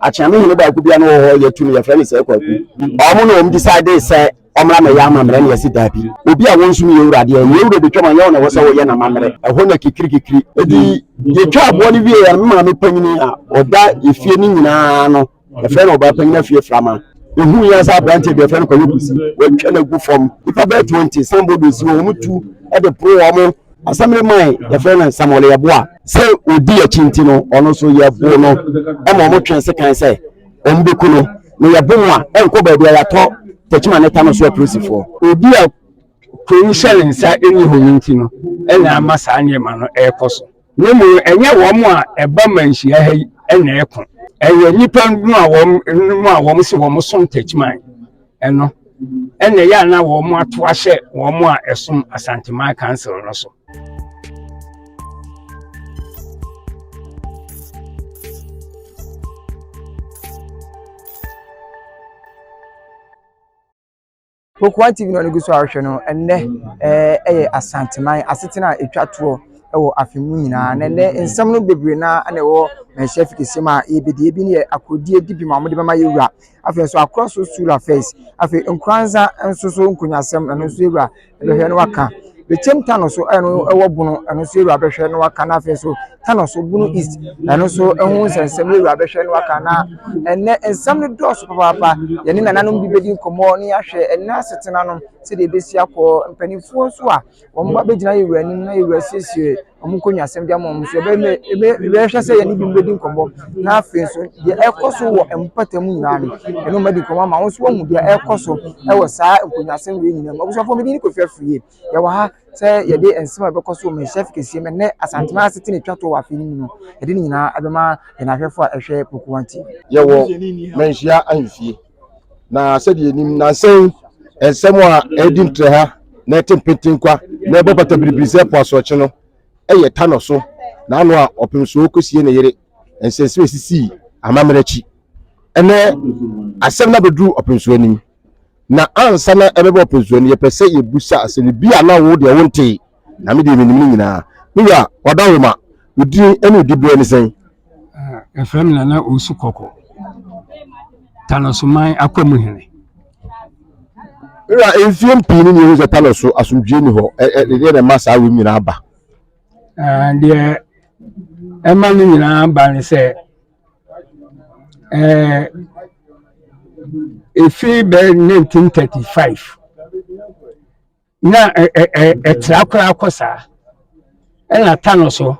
Akyeame hene baako bia no wɔ hɔ yɛtu no yɛfrɛ no sɛ kwaku ɔmo na ɔmo decide sɛ ɔmmra mɛyɛ amammerɛ na yɛsi daabi obi a wɔnsom yɛ wura deɛ nyɛ wura bɛtwam anyɛ wo na ɛwɔ sɛ wɔyɛ n'amammerɛ ɛhɔ na kikirikikiri ɛdi yɛtwa aboɔ no wie yɛ no maame panyini a ɔda efie no nyinaa no yɛfrɛ no ɔbaa panyini afie frama ehu yɛ sɛ aberanteɛ bi yɛfrɛ no kɔyɛ kusi wɔatwa no agu fam nipa bɛɛ 20 sanbɔdo si wɔn tu ɛde poro wɔn Asɛm no mae yɛfrɛ no Samuel Yeboah. Sɛ odi akyi nti no, ɔno nso yɛboo no ma wɔtwɛn sekan sɛ wɔbɛku no, na yɛbo mu a ɛnkɔ baabi a yɛatɔ Techiman ne Tano so apolisifoɔ. Obi a kuro yi hyɛ ne nsa nni hɔ yi nti no na ama saa nneɛma no rekɔ so, na mmom no ɛnyɛ wɔn a ɛba manhyia ha yi na ɛko, ɛyɛ nnipa no a wɔn se wɔsom Techiman Ɛno, ɛna ɛyɛ a na wɔn ato ahyɛ wɔn a ɛsom Asanteman Council no so. Kokoa TV na ɔno gu so ahwɛ no ɛnɛ eh, ɛyɛ Asanteman asetena a ɛtwa toɔ wɔ afe mu nyinaa na ɛnɛ nsɛm no bebree na ɛna ɛwɔ manhyia fi kɛseɛ mu a yɛbɛdi ebi ne yɛ akorodie di bi ma wɔde bɛma yɛwura Afei nso akorɔ so sura fɛs. Afei nkoranza nso so nkonyasɛm ɛno nso ewura bɛhwɛ na waka. Bekyem tano so a ɛno ɛwɔ bono ɛno nso ewura bɛhwɛ na waka na afei nso tano so bono east ɛno nso ɛho nsɛnsɛm ewura bɛhwɛ na waka na ɛnɛ nsɛm no dɔɔso papaapa yɛne nananom bi bedi nkɔmɔ ne ahwɛ ɛnɛ asetena no sɛdeɛ ebesi akɔ mpanimfoɔ nso a Wɔn mma bɛgyina yɛn wura anim na yɛn wura asiesie wɔn nkonnwasɛm de ama wɔn nso. Ɛbɛyɛ dɛ yɛbɛhwɛ sɛ yɛne bi bɛdi nkɔmmɔ na afei nso deɛ ɛrekɔ so wɔ mpata mu nyinaa no, ɛno madi nkɔmmɔ ama wɔn nso wɔahu deɛ ɛrekɔ so wɔ saa nkonnwasɛm wei nyinaa mu. Abusuafoɔ, medin ne Kofi Afriyie. Yɛwɔ ha sɛ yɛde nsɛm a ɛbɛkɔ so wɔ Manhyia Fikasua mu ɛnnɛ Asantema asetena twa toɔ wɔ afe no mu no, yɛde ne nyinaa ɛbɛma yɛn ahwɛfoɔ a ɛhwɛ Pokuwa TV. Yɛwɔ Manhyia Ahemfie. Na sɛdeɛ yɛnim nansa yi nsɛm a ɛredi ntrɛha na ɛte mpetenkwa na ɛbɔ pata biribiri sɛ po asorɔkye no yɛ ta no so na ano a ɔpem so kɔsie ne yere nsɛnsɛm a ɛsisii amammerɛ akyi. Ɛnɛ asɛm no abɛduru ɔpemsoɔ anim na ansa na ɛbɛba ɔpemsoɔ no yɛpɛ sɛ yɛbusa asɛm no bi a na wo deɛ wontee. Na me deɛ menim ne nyinaa. Me wura, w'adawoma, wo din ne wo diberɛ ne sɛn? Ɛfrɛ me Nana Owusu Kɔkɔ, Tanɔsoman Akwamu Hene. Me wura, mfie mpii ne neɛhu sɛ Tanɔ so asomdwie ni hɔ. Ɛdeɛ na ɛma saa wei nyinaa ba? Deɛ ɛma ne nyinaa ba ne sɛ, ɛfiri bɛɛ 1935 na ɛtra koraa kɔ saa ɛna ta no so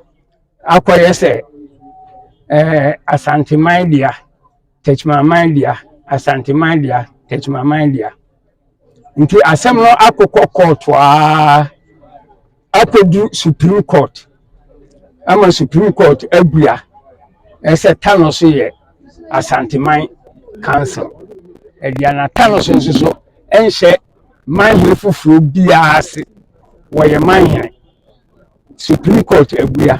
akɔyɛ sɛ asanteman dea tɛkyimaman dea asanteman dea tɛkyimaman dea nti asɛm no akokɔ kɔɔto aa akɔdu supreme court ama supreme court abua ɛsɛ ta no so yɛ asanteman council ɛdeɛ na ta no so nso so ɛnhyɛ manhene foforɔ biara ase wɔyɛ manhene supreme court abua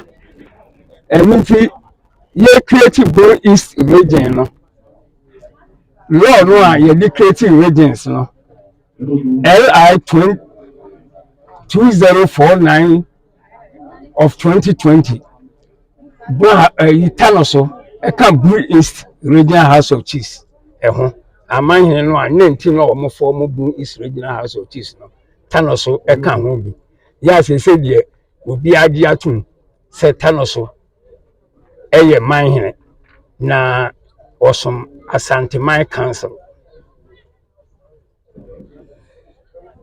ɛno nti yɛ create bro east region no law no a yɛde create regions no li 2049 of 2020 baa ayi ta no so ɛka Bui East Regional House of Chiefs ɛho amanhene no a ne nti na wɔn fɔ mo Bui East Regional House of Chiefs no ta no so ɛka ho bi yɛ asese deɛ obi agye atum sɛ ta no so ɛyɛ manhene na wɔsom Asanteman Council.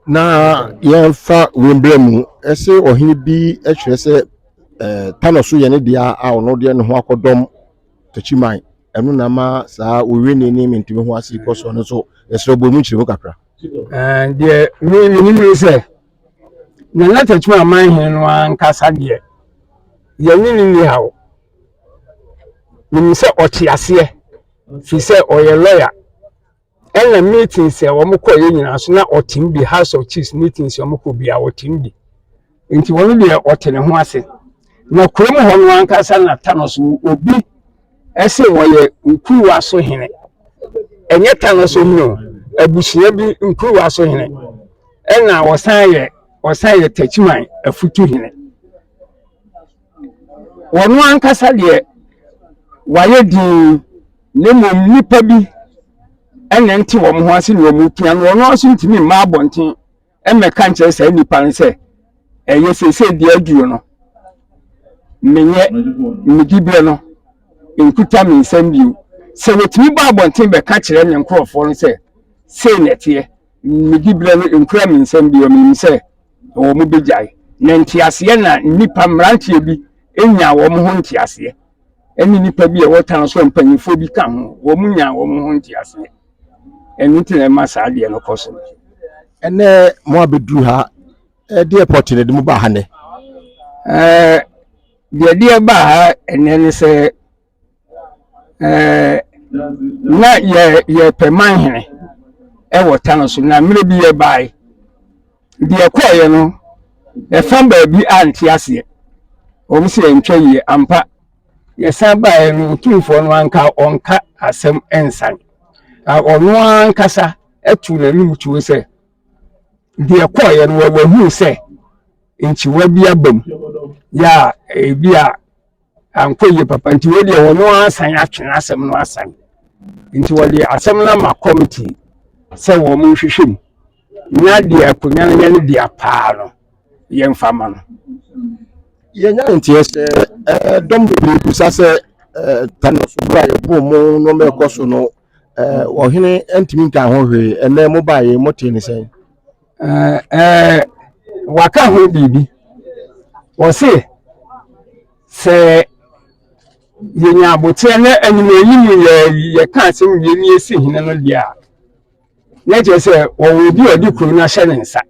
Na yɛmfa wei mbrɛ mu, ɛse ɔhene bi kyerɛ sɛ eh, Tano so yɛ ne dea a ɔno deɛ ne ho akɔdɔm Takyiman. Ɛno na ma saa Owene ne Mentumi ho ase kɔ so no nso yɛsrɛ bɔ mu nkyerɛmu kakra. Eh, deɛ me menim ne sɛ Nana Takyiman aman hene no ankasa deɛ yɛne ne ni haw. Menim sɛ ɔte aseɛ firi sɛ ɔyɛ lɔya. Ɛna meetins a wɔn kɔeɛ nyinaa so na ɔte mu bi, House of Chiefs meetins a wɔn kɔ biara ɔte mu bi. Nti wɔn deɛ ɔte ne ho ase. Na kurom hɔ no ankasa na Thanos wɔ obi ɛse wɔyɛ nkuruwa so hene. Ɛnyɛ Thanos ohene o, abusua bi nkuruwa so hene. Ɛna ɔsan yɛ ɔsan yɛ Techiman afutu hene. wɔn ankasa deɛ wɔayɛ dinn na mmom nnipa bi ɛna nte wɔn ho ase na wɔn repia no wɔn nso ntumi mma abɔnten mmɛka nkyerɛ saa nnipa no sɛ ɛyɛ sese deɛ aduro no menyɛ mediberɛ no nkuta me nsɛm bio sɛ wɔtumi bɔ abɔnten bɛka kyerɛ ne nkurɔfoɔ no sɛ sei na ɛteɛ mediberɛ no nkura me nsɛm bio menim sɛ wɔbɛgyae. Na nteaseɛ na nnipa, mmeranteɛ bi nyaa wɔn ho nteaseɛ, ɛne nnipa bi a ɛwɔ town so a mpanimfoɔ bi ka ho, wɔn nyaa wɔn ho nteaseɛ. Ɛno nti na ɛma saa adeɛ no kɔ so. Ɛnɛ mo abɛduru ha, ɛde airport na ɛde mo baa ha nɛ? Ɛɛ, deɛ ɛde ɛbaa ha ɛnɛ ne sɛ ɛɛ na yɛ yɛpɛ manhene ɛwɔ tano so na mmerɛ bi yɛbaeɛ deɛ ɛkɔeɛ no ɛfa baabi ante aseɛ wɔn sɛ ɛntwa yie ampa yɛsan baeɛ no otumfoɔ no anka ɔnka asɛm ɛnsan na ɔno ankasa ɛtu n'anim tuo sɛ deɛ ɛkɔeɛ no wɔwɔ huu sɛ nkyiwa bi abam yɛ a ebi a ankɔ yie papa nti wei deɛ wɔn asan atwe asɛm no asan nti wɔde asɛm no ama kɔmiti sɛ wɔn nhwehwɛ mu na deɛ akonnwa no yɛ no deɛ paa no yɛmfa ma no yɛnya nteɛ sɛ dɔm bebree bisa sɛ tane so berɛ a yɛbɔɔ mu no mɛkɔ so no ɔhene ntumi nka ho hwee ɛnɛ mobaeɛ motee ne sɛn Eh, eh, waka ho biribi wɔse sɛ yɛnya aboteɛ na animanim yɛ yɛka asɛm mmienu yɛsi hene no deɛ a na kyerɛ sɛ wɔwɔ obi a ɔde kuro no ahyɛ ne nsa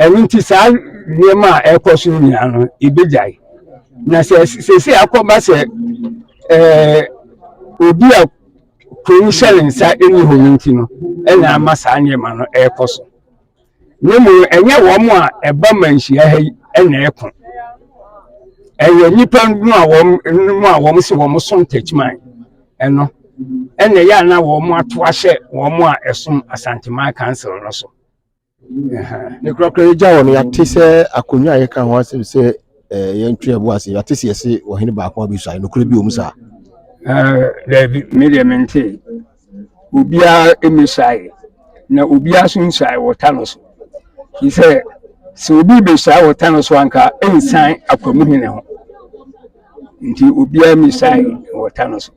ɛno nti saa nneɛma a ɛrekɔ so nyinaa no ɛbɛgyae na sɛ sɛsɛ akɔba sɛ eh, obi a Kurow yi hyɛ ne nsa nni hɔ no nti no na ama saa nneɛma no rekɔ so. Na mmom no, ɛnyɛ wɔn a ɛba ma nhyia ha yi na ɛko. Ɛyɛ nnipa no a wɔn no a wɔn se wɔn som Techiman ɛno ɛna ɛyɛ a na wɔn ato ahyɛ wɔn a ɛsom Asanteman Council no so. ne korakora yɛgya hɔ no yɛate sɛ akonnwa a yɛka ho asɛm sɛ eh, yɛntwe ɛbo ase yɛate sɛ yɛse ɔhene baako abɛsuae nokorɛ bi wɔ mu saa daabi eh, medeɛ mente obiara mmɛsuae na obiara nso nsuae wɔta no so fi sɛ sɛ obi bɛsuae wɔta no so anka ɛnsan akwamu hene ho nti obiara mmɛsuae wɔta no so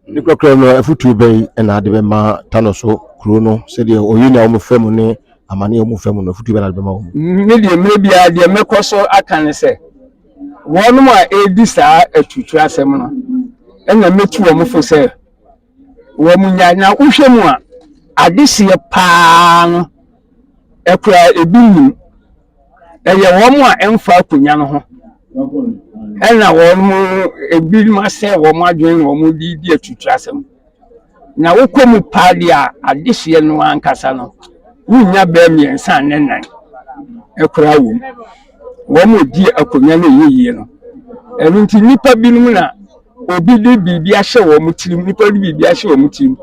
Ne korakora mu no, afotuo bɛn na ade bɛma Tano so kuro no sɛdeɛ ɔyi na wɔn fa mu ne amane a wɔn fa mu no afotuo bɛn na ade bɛma wɔn? Me deɛ mmerɛ biara deɛ mɛkɔ so aka ne sɛ wɔn a ɛredi saa aturutura asɛm no ɛna mɛtu wɔn fo sɛ wɔn nya na wohwɛ mu a adeseɛ paa no ɛkora ebi nim ɛyɛ wɔn a ɛmfa akonnwa no ho ɛna wɔn ebinom asɛe wɔn adwene na wɔn de di atutua asɛm na wokɔ mu paa deɛ a adehyeɛ no ankasa no wonya bɛɛ mmiɛnsa ne nan ɛkora wɔ mu wɔn a di akonnwa no ɛyɛ yie no ɛno nti nnipa binom na obi de biribi ahyɛ wɔn tirim nnipa de biribi ahyɛ wɔn tirim.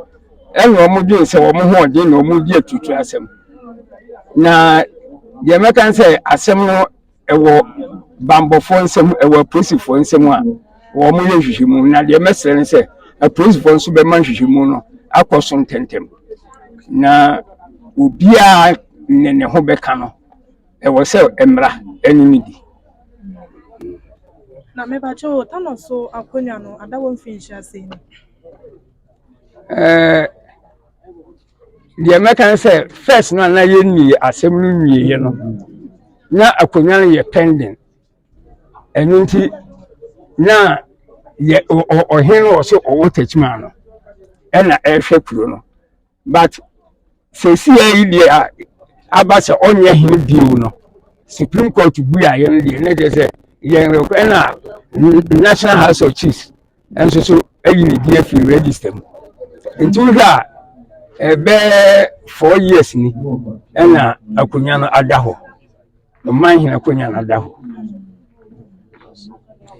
ɛna wɔn dwen sɛ wɔn ho ɔden na wɔn di atutu asɛm na deɛ mɛka sɛ asɛm no ɛwɔ bambɔfoɔ nsɛm ɛwɔ apolisifoɔ nsɛm a wɔn yɛ nhwehwɛmu na deɛ mɛsrɛ no sɛ apolisifoɔ nso bɛma nhwehwɛmu no akɔ so ntɛntɛm na obiara ne ne ho bɛka no ɛwɔ sɛ mmara ɛne ne di. na mɛbàkyɛ o tano so akonnwa no ada wɔn mfinhyia sei no. ɛɛ deɛ mɛka ne sɛ first no a na yɛnni asɛm no nwieɛ no na akonnwa no yɛ pending ɛno nti na yɛ ɔhene no wɔ so ɔwɔ takyima no ɛna ɛrehwɛ kuro no but sɛsia yi deɛ a aba sɛ ɔnyɛ hene bio no supreme court buaeɛ no deɛ ne deɛ sɛ yɛn ɛna national house of chiefs nso so ayi ne din afiri register mu nti wohwɛ a ɛbɛɛ four years ni ɛna akonnwa no ada hɔ ɔman hene akonnwa no ada hɔ.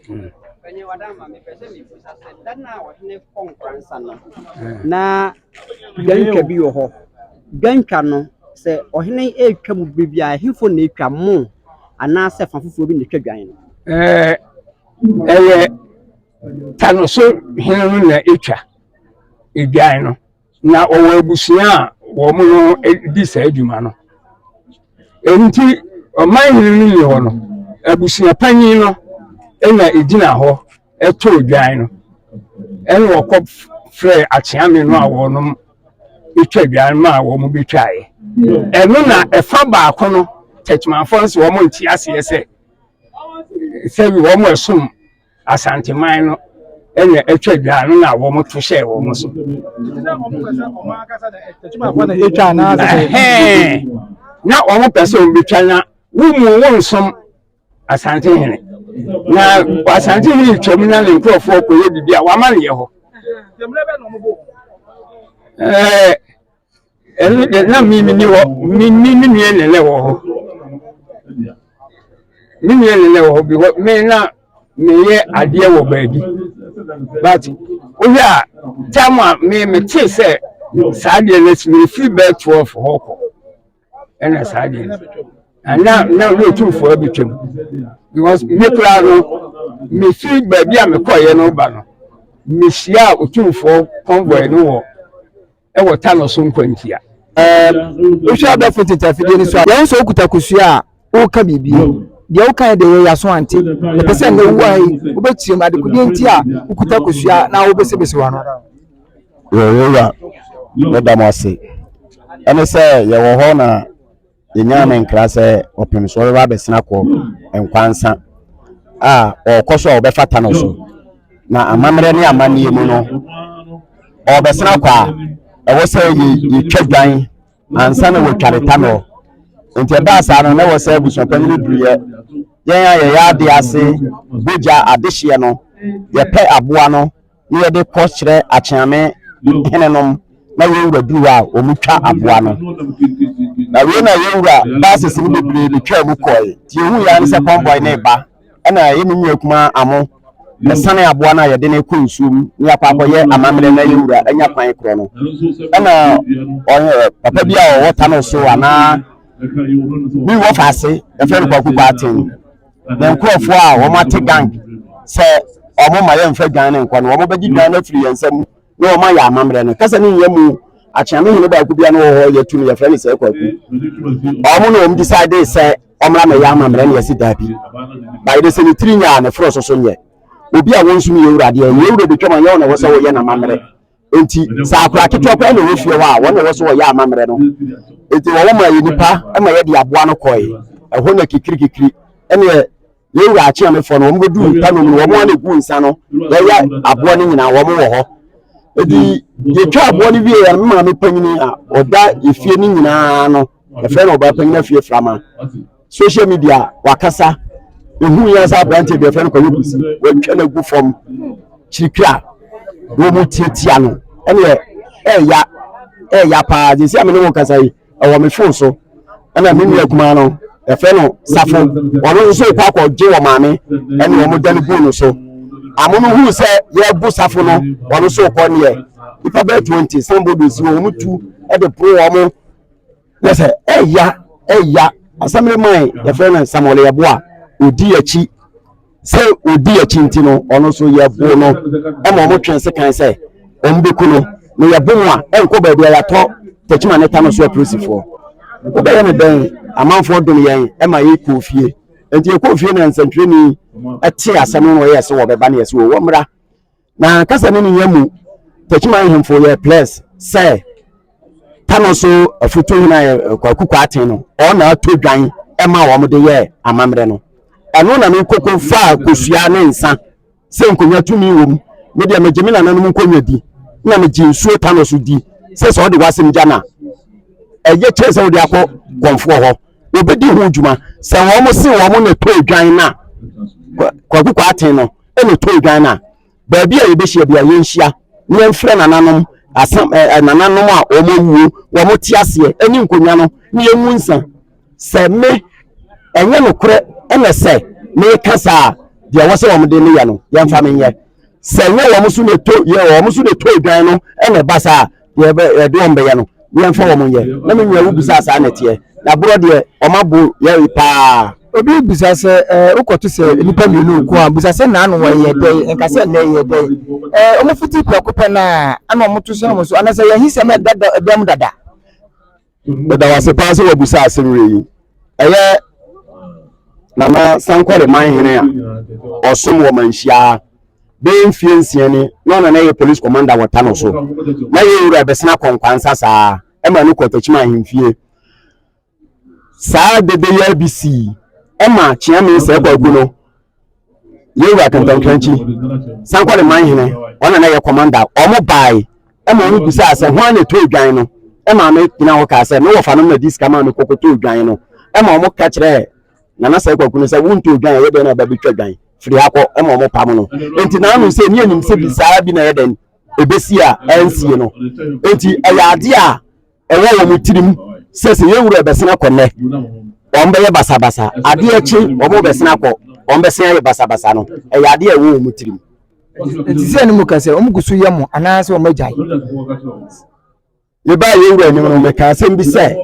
Hmm. na dwantwa bi wɔ hɔ dwantwa no sɛ ɔhene ɛretwa mu biribi a ɛhefo na ɛtwa mo anaasɛ fa foforɔ bi na ɛtwa dwan no ɛyɛ ta no so hene no na ɛtwa adwan no na ɔwɔ abusua a wɔn no di saa adwuma no nti ɔman hene no nni hɔ no abusua panyin no na ɛgyina hɔ ɛtɔ adwan no ɛna wɔkɔ frɛ akyeame no a wɔnom ɛtwa adwan no a wɔn bɛtwaeɛ ɛno na ɛfa baako no tɛkyemafoɔ nso wɔn nte aseɛ sɛ sɛ wɔn a ɛsom Asanteman no na atwa dwa no na wɔn to hyɛɛ wɔn so. na wɔn pɛ sɛ wɔn betwa na wɔn mu wɔn nsom Asantehene na Asantehene twam na ne nkurɔfoɔ kɔyɛ biribi a wɔama no yɛ hɔ. ɛno deɛ na me menni hɔ me me me nua nenɛ wɔ hɔ me nua nenɛ wɔ hɔ because me na meyɛ adeɛ wɔ baabi but wohwɛ a tam a me metee sɛ saa deɛ no asi mefiri bɛɛ 12 hɔ kɔ ɛna saa deɛ no ana na ne ɔtumfoɔ abɛtwam because me koraa no mefiri baabi a mekɔeɛ no ba no mehyia ɔtumfoɔ convoy no wɔ wɔ tanɔ so nkwantia. Wohwɛ abɛɛfo tete afidie no so a, yɛn sɛ wokuta kosua a woka biribi. Deɛ woka yɛ deɛ yɛ yaso ante. Yɛpɛ sɛ nnɛ wowu ha yi, wobɛkyerɛ mu adekodeɛ nti a wokuta kosua na wobɛsebese wano. Yɛwura, meda mo ase. Ɛne sɛ yɛwɔ hɔ na. Yɛnyaa ne nkra sɛ ɔpem so ɔbɛba abɛsena kɔ nkwa nsa a ɔrekɔ so a ɔbɛfata no so na amammerɛ ne amanneɛ mu no ɔrebɛsena kɔ a ɛwɔ sɛ yɛtwa dwan ansa na wɔtwa ne tanɔ nti ɛbaa saa no na ɛwɔ sɛ abusuapanyini duruyɛ yɛn a yɛyɛ ade ase bogya adehyeɛ no yɛpɛ aboa no na yɛde kɔ srɛ akyeame henenom na yɛn wura duru hɔ a wɔtwa aboa no na wei na yɛn wura baasisi no bebree betwaa mu kɔe nti yɛhu yɛa ne sɛ kɔmbɔe ne ba ɛna yɛ ne nua kuma amo ɛsane aboa no a yɛde no kɔ nsuom ne yɛakɔ akɔyɛ amammerɛ na yɛn wura anya kwan korɔ no ɛna ɔyɛ papa bi a ɔwɔ ta no so anaa bi wɔ faase ɛfɛ no kwakukwaa ten Yɛn nkurɔfoɔ a wɔate gang sɛ wɔn ma yɛmfa dwan no nkɔ no, wɔbɛgye dwan no afiri yɛn nsa mu na wɔn ayɛ amammerɛ no. Kasa no nyɛ mu. Akyeame hene baako bia no wɔ hɔ yɛtu no yɛfrɛ no sɛ kwaku. Wɔn na wɔn decide sɛ wɔmmra mɛyɛ amammerɛ na yɛsi daabi. Bae de sɛ ne tiri nyɛ a ne foro so so nyɛ. Obi a wɔn nso ne yɛwura deɛ, yɛwura bɛtwam a nyɛ wɔn na ɛwɔ sɛ wɔyɛ n'amammerɛ. nti sɛ akora ketewa koraa na ɛwɔ fie hɔ a wɔn na ɛwɔ so wɔyɛ amammerɛ no nti wɔn ma yɛ nipa ma yɛde aboa no kɔe ɛhɔ na kikirikikiri ɛneɛ yɛn wura akyeamefoɔ no wɔn bɛdu nipa no mu no wɔn a na ɛgu nsa no yɛyɛ aboa no nyinaa wɔn wɔ hɔ nti yɛtwa aboa no wie yɛn maame panyini a ɔda efie no nyinaa no ɛfrɛ no ɔbaa panyini afie frama social media wakasa ehu yɛn sɛ aberante bi yɛfrɛ no kɔyɛ kusi wɔatwa no agu fam kyirikiri a wɔmu tiatia no ɛneɛ ɛɛya ɛɛya paa gye sɛ amene wo kasa yi ɛwɔ me fon so ɛna me nua kumaa no yɛfrɛ no safo wɔno nso kɔ akɔgye wɔ maame ɛne wɔn da no gu no so amo no huu sɛ yɛbu safo no wɔno nso kɔ neɛ nipa bɛɛ twenty sanbɔ bɛsi wɔn tu ɛde poro wɔn na sɛ ɛya ɛya asɛm no mae yɛfrɛ no samuel yɛbo a ɔdi akyi sɛ ɔdi akyi nti no ɔno nso yɛbo no ma ɔmo twɛn se kan sɛ ɔmo bɛku no na yɛbo mu a ɛnkɔ baabi a yɛatɔ takyima ne ta no so apolisifoɔ wobɛyɛ no dɛn amanfoɔ dom yɛn ɛma yɛkɔɔ fie nti yɛkɔɔ fie na nsɛntwerɛni ɛte asɛm no na ɔyɛ sɛ wɔbɛba ne yɛ sɛ wɔmmra na kasa ne ne yɛ mu tɛkyima ahemfo yɛ plɛs sɛ tano so afutu hena yɛ eh, kwaku kwaten no ɔna ato dwan ɛma wɔn de yɛ amammerɛ no ɛno na ne koko faa kosua ne nsa sɛ nkonnwa tumi wɔ mu me deɛ megye me nananom nkonnwa di na megye nsuo tano so di sɛ sɛ ɔde wasɛm gya na ɛyɛ kyerɛ sɛ wode akɔ kɔnfoɔ hɔ wɔbɛdi ho dwuma sɛ wɔn se wɔn na ɛtɔ dwan no a kwaku kwaten no na ɔtɔn dwan no a, baabi a yɛbɛhyia bia yɛnhyia na yɛmfrɛ nananom asam ɛ eh, nananom a wɔn awuo wɔn te aseɛ ɛne nkonnwa no ne yɛnwu nsa sɛ me ɛnyɛ nokorɛ ɛna sɛ meka saa deɛ ɛwɔ sɛ wɔn de no yɛ no yɛmfa menyɛ sɛ nyɛ wɔn so na ɛtɔ yɛ wɔn so na ɛtɔ dwan no ɛna ɛba saa deɛ ɛbɛ ɛde wɔn bɛyɛ no yɛmfa wɔn nyɛ na me nua wobisa saa na ɛteɛ na borɔ deɛ wɔn abo yɛre paa obi bisa sɛ ɛɛ wokɔto sɛ nnipa mmienu nko a bisa sɛ na ano wɔyɛ dɛn nka sɛ ɛnɛ yɛ dɛn ɛɛ wɔn fiti prɛko pɛ na ɛna wɔn to sɛ wɔn so anasɛ yɛn ahisɛm ɛda dɛm dada. meda wo ase paa sɛ woabusa asɛm werɛ yi ɛyɛ nana sankɔre man hene a ɔsom wɔ manhyiaa bɛyɛ mfie nsia ni na ɔna na ɛyɛ police commander wɔ tano so na yɛ wura bɛsena kɔnkwansa saa ɛma no kɔtakyima ahemfie saa dede yɛ bi sii ɛma kyeame sɛ kwaku no yɛwura kantankrankyi sankɔ ne man hene ɔna na yɛ kɔmanda ɔmo bae ɛma ɔmo bisaa sɛ hwan na ɛtɔ odwan no ɛma ame gyina hɔ kaa sɛ me wɔfa no na di sika maa me kɔkɔtɔ odwan no ɛma ɔmo ka kyerɛ nana sɛ kwaku no sɛ wontɔ odwan ɛyɛ dɛn na ɛba bɛtwa dwan firi ha kɔ ɛma ɔmo pam no nti naanu sɛ ne anim sɛ bi saa bi na ɛyɛ dɛn ebesi a ɛnsie no nti ɛyɛ adeɛ a ɛwɔ wɔn tirim sɛ sɛ yɛn wura bɛsen akɔ nnɛ wɔn bɛyɛ basabasa adeɛ kye wɔn bɛsen akɔ wɔn bɛsen ayɛ basabasa no ɛyɛ adeɛ ɛwɔ wɔn tirim. nti sɛ ne mu ka sɛ wɔn gu so yɛ mo anaasɛ wɔn agyae. yɛbaa yɛn wura anim no meka asɛm bi sɛ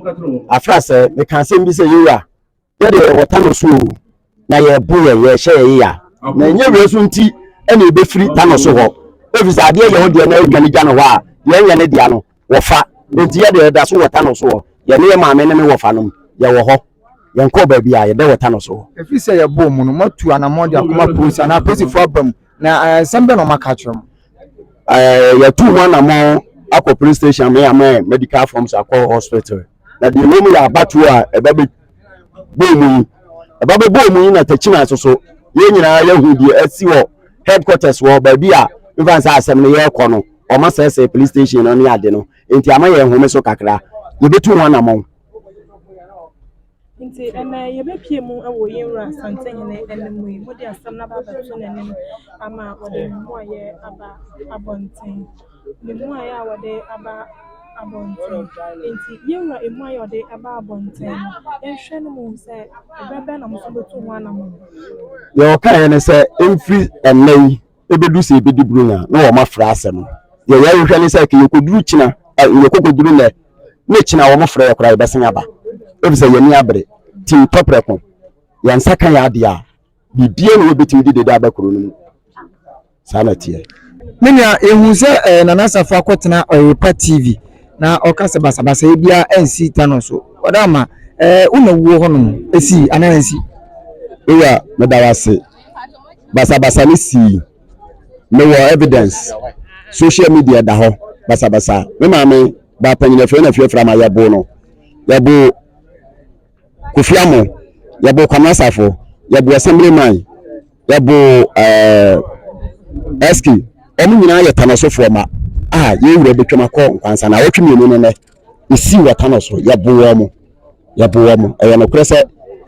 afra sɛ meka asɛm bi sɛ yɛn wura yɛ deɛ yɛwɔ tano so o na yɛbo yɛ yɛhyɛ yɛ yeya na ɛnyɛ wei so nti ɛna ɛbɛfiri tano so hɔ ɛfiri sɛ adeɛ yɛ wo deɛ na adwa no gya no hɔ a deɛ ɛnyɛ ne dea no wɔfa nti yɛ deɛ ɛda so wɔ tano so hɔ yɛne yɛ maame ne me wɔfa nom yɛwɔ hɔ yɛnkɔɔ baabi a yɛdɛ wɔ tano so hɔ ɛfiri sɛ yɛbɔɔ mu no moatu anammɔn de akoma polisi anaa polisifoɔ aba mu na eh, nsɛm bɛ na ɔmaka kyerɛ mu eh, yɛtu ho anammɔn akɔ police station me amɛ medical forms akɔ hospital na deɛ ɛwɔ mu yɛ abatoɔ a ɛba bɛ bɔɔ mu yi ɛba bɛ bɔɔ mu yi na takyima nso so yɛn nyinaa yɛhu deɛ asi wɔ headquarters wɔ baabi a mfa nsa asɛm no yɛrekɔ no ɔma sɛsɛ police station no ne ade no nti ama yɛn home so kakra yɛbɛtu ho anamɔn Nti ɛnnɛ yɛbɛpue mu wɔ yɛn Wura Asantehene anim yi, mode asɛm no aba abɛto n'anim ama wɔde ne mmuaeɛ aba abɔnten. Ne mmuaeɛ a wɔde aba abɔnten. Nti yɛn Wura mmuaeɛ a ɔde aba abɔnten no, yɛnhwɛ no mu sɛ ɛberɛ bɛn na mo nso bɛtu ho anamɔn. Deɛ ɔkaeɛ ne sɛ, ɛmfiri ɛnnɛ yi, ebedu sɛ ebedi Buronya na wɔn afrɛ asɛm no. Deɛ yɛrehwehwɛ ne sɛ ka yɛkɔduru kyina yɛkɔkɔduru nnɛ ne kyina a wɔfrɛ yɛ koraa yɛbɛsan aba efisɛ yɛn ani abere ti ntɔ prɛko yɛn nsa ka yɛ adeɛ a biribiara na yɛbɛtumi de deda aba kuro no mu saa na ɛteɛ. Me nua yɛhu sɛ eh, Nana Asafo akɔtena Ɔyerepa TV na ɔka sɛ basabasayɛ biara ansi Tano so ɔda ama eh, wo na wuo hɔnom ɛsii anaa ansi? Eya meda wo ase. basabasa no sii mewɔ evidence social media da hɔ basabasa me maame baapanyin afei na afiafra ma yɛbo no yɛbo kofi amo yɛbo kwamina safo yɛbo assembly man yɛbo ɛɛ eh, ɛski wɔn nyinaa yɛ tanasofoɔ ma a yɛn wura bɛtwam akɔ nkwansa na awɔtwe mmienu no nɛ ɛsii wɔta no so yɛboa mu yɛboa mu ɛyɛ nokorɛ sɛ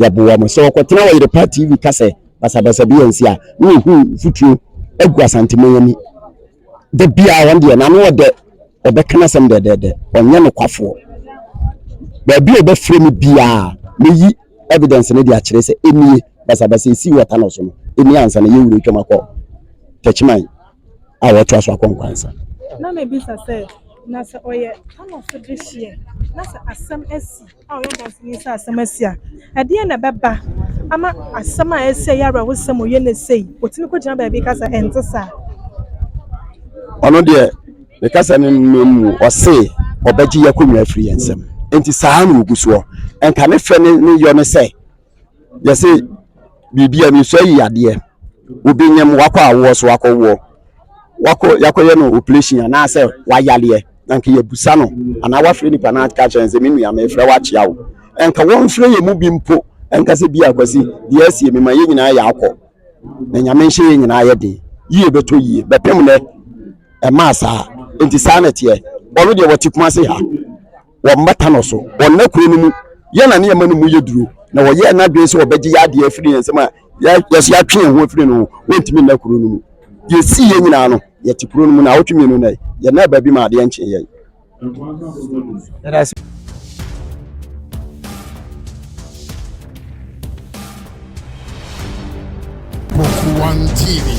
yɛboa mu sɛ wɔkɔtena wɔ yerepa tv ka sɛ basabasa bi ansi a na wɔhu mfuturo agu asanteman ani da biaa wɔn deɛ nano ɔdɛ ɔbɛka no asɛm dɛdɛdɛ ɔnyɛ nokwafoɔ baabi a ɔbɛfrɛ me biaa meyi evidence no de akyerɛ sɛ ɛnie basabasa ɛsii wɔta no so no ɛni ansa na yɛwura twam akɔ tɛkyiman a wɔtoa so akɔ nkwansa. Na mebisa sɛ, Na sɛ ɔyɛ Paulfo dehyeɛ, na sɛ asɛm asi a ɔyɛ ɔdanseni sɛ asɛm asi a, ɛdeɛn na ɛbɛba ama asɛm a asi a ɛyɛ awerɛhosɛm ɔyɛ no sei? Ɔtumi kɔgyina baabi ka sɛ, Ɛnte saa. Ɔno deɛ, ne kasa no mmamu, ɔse ɔbɛgye yɛ akonnwa afiri yɛn nsam. Enti saa na ɔgu soɔ. Ɛnka ne fɛ ne yɔ ne sɛ, yɛse biribi a mesua yi adeɛ obi nyɛm wakɔ awoɔ so wakɔ woɔ wakɔ yakɔyɛ no operation anaasɛ wayaleɛ na nka yɛbusa no anaa wafrɛ nipa no aka kyerɛ no sɛ me nua mefrɛ wo akyea wo nka wɔmfrɛ yɛ mu bi mpo nka sɛ bi akwasi deɛ asie mema yɛ nyinaa yɛ akɔ na nyame nhyɛ yɛ nyinaa yɛ den yie bɛtɔ yie bɛpem nɛ ɛmaa saa nti saa na ɛteɛ ɔno deɛ wɔte kuma se ha wɔ mmata no so, wɔnna kuro no mu, yɛn na ne yɛma no mu yɛ duro, na wɔyɛɛ n'adwene sɛ wɔbɛgye yɛn adeɛ afiri yɛn nsam a yɛso yɛatwe yɛn ho afiri no ho, wɔntumi nna kuro no mu. Deɛ ɛsii yɛn nyinaa no, yɛte kuro no mu, na awotwe mmienu nnɛ, yɛnnaa baabi ma adeɛ nkyee yɛn. One TV.